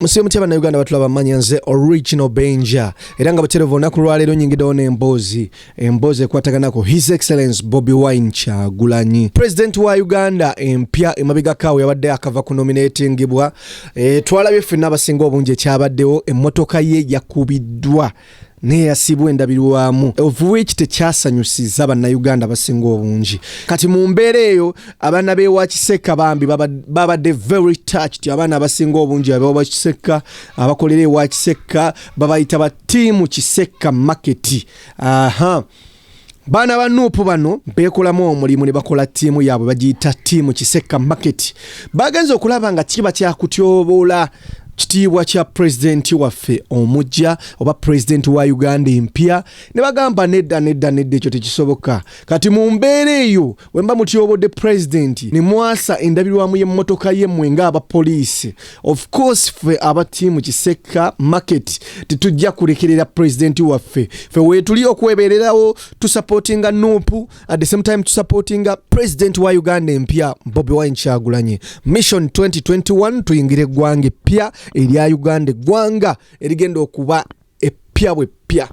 musibe mutya bannayuganda batulaba manya nze original benja era nga buterevu olunaku lwaleero nyingidewo n'emboozi emboozi ekwataganako his excellence bobi wine kyagulanyi president wa uganda empya emabegakaawo yabadde akava ku nominatingibwa e, twalabye ffenna abasinga obungi ekyabaddewo emmotoka ye yakubiddwa neyasibwa endabirwamu of which tekyasanyusiza bannayuganda basinga obungi kati mu mbeera eyo abaana bewa kisekka bambi babadde very touched abaana abasinga obungi abewa kisekka abakolera ewa kisekka babayita batiimu kisekka maketi aha uh -huh. baana ba nuupu bano beekolamu omulimu ne bakola ttiimu yaabwe bagiyita ttiimu kisekka maketi bagenze okulaba nga kiba kyakutyoboola kitiibwa kya pulezidenti waffe omujja oba pulezidenti wa uganda empya ne bagamba nedda nedda nedda ekyo tekisoboka kati mu mbeera eyo Wemba mutyobodde pulezidenti ne mwasa endabirwamu y'emmotoka ye mmwe ng'abapoliisi. Of course ffe aba ttiimu Kisekka market tetujja kulekerera pulezidenti waffe. Ffe weetuli okwebeererawo tusapootinga Nuupu at the same time tusapootinga pulezidenti wa Uganda empya Bobi Wine Kyagulanyi. Mission 2021 tuyingire eggwanga eppya erya Uganda eggwanga erigenda okuba eppya bweppya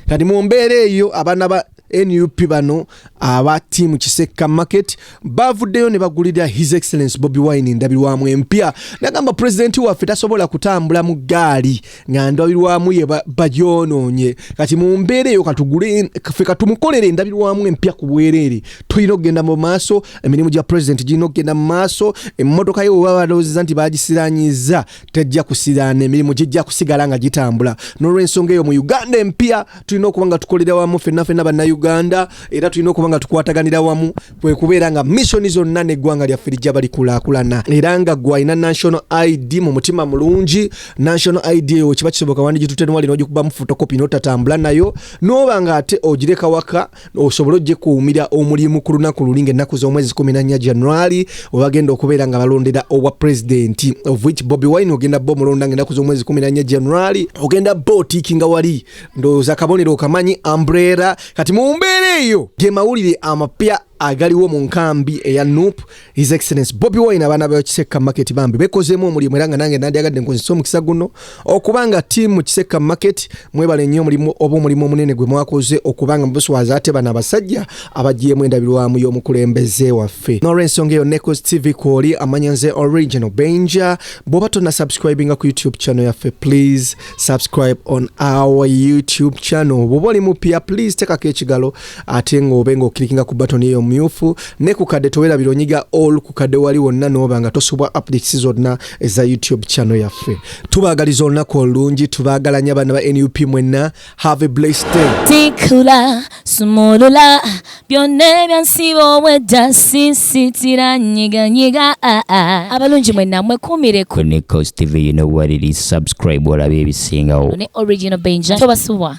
kati mu mbeera eyo abaana ba nup bano aba tiimu kisekka market bavuddeyo ne bagulira his excellence bobi wine endabirwamu empya nagamba pulezidenti waffe tasobola kutambula mu gaali nga ndabirwamu ye bagyonoonye kati mu mbeera eyo katuguleffe katumukolera endabirwamu empya ku bwereere tulina okugenda mu maaso emirimu gya pulezidenti girina okugenda mu maaso emmotoka ye webabalowozeza nti bagisiranyiza tejja kusiraana emirimu gijja kusigala nga gitambula n'olwensonga eyo mu uganda empya tulina okuba nga tukolera wamu fenna fenna bannayuganda era tulina okuba nga tukwataganira wamu kwe kubeera nga missoni zonna n'eggwanga lyaffe lijja balikulaakulana era nga gwalina national id mu mutima mulungi national id eyo kiba kisoboka wandijitutenwali n'ogikubamu fotokopi n'otatambula nayo n'oba nga ate ogireka waka osobole ojekuumira omulimu ku lunaku luli ngaennaku z'omwezi 14 january webagenda okubeera nga balondera obwa pulezidenti of which bobi wine ogenda bo omulonda ngaennaku z'omwezi 14 january ogenda bo otiiki nga wali ndowooza kabonero okamanyi ambrera kati mu mbeera eyo ge mawulire amapya agaliwo mu nkambi eya nup His Excellency Bobby Wine abaana ba Kisekka Market bambi bekozeemu omulimu era nga nange nandyagadde nkozesa omukisa guno okuba nga tiimu Kisekka Market mwebale nnyo omulimu oba omulimu omunene gwe mwakoze okuba nga mubuswaza ate bano abasajja abagiyemu endabirwamu y'omukulembeze waffe n'olwensonga eyo Necos TV kwoli amanya nze original benja bw'oba tonna subscribinga ku YouTube channel yaffe please subscribe on our YouTube channel bw'oba oli mupya please tekako ekigalo ate ng'obe ng'okirikinga ku batoni eyo myufu ne ku kadde towerabira onyiga all ku kadde wali wonna n'oba nga tosubwa updates zonna eza youtube channel yaffe tubaagaliza olunaku olulungi tubaagalanya abaana ba nup mwenna have a blessed day tikula sumulula byonna ebyansiba obwedda sisitira nyiganyiga ah, ah. abalungi mwenna mwekuumire ku nikos tv you know what it is subscribe olabe ebisingawo ne original benja tobasubwa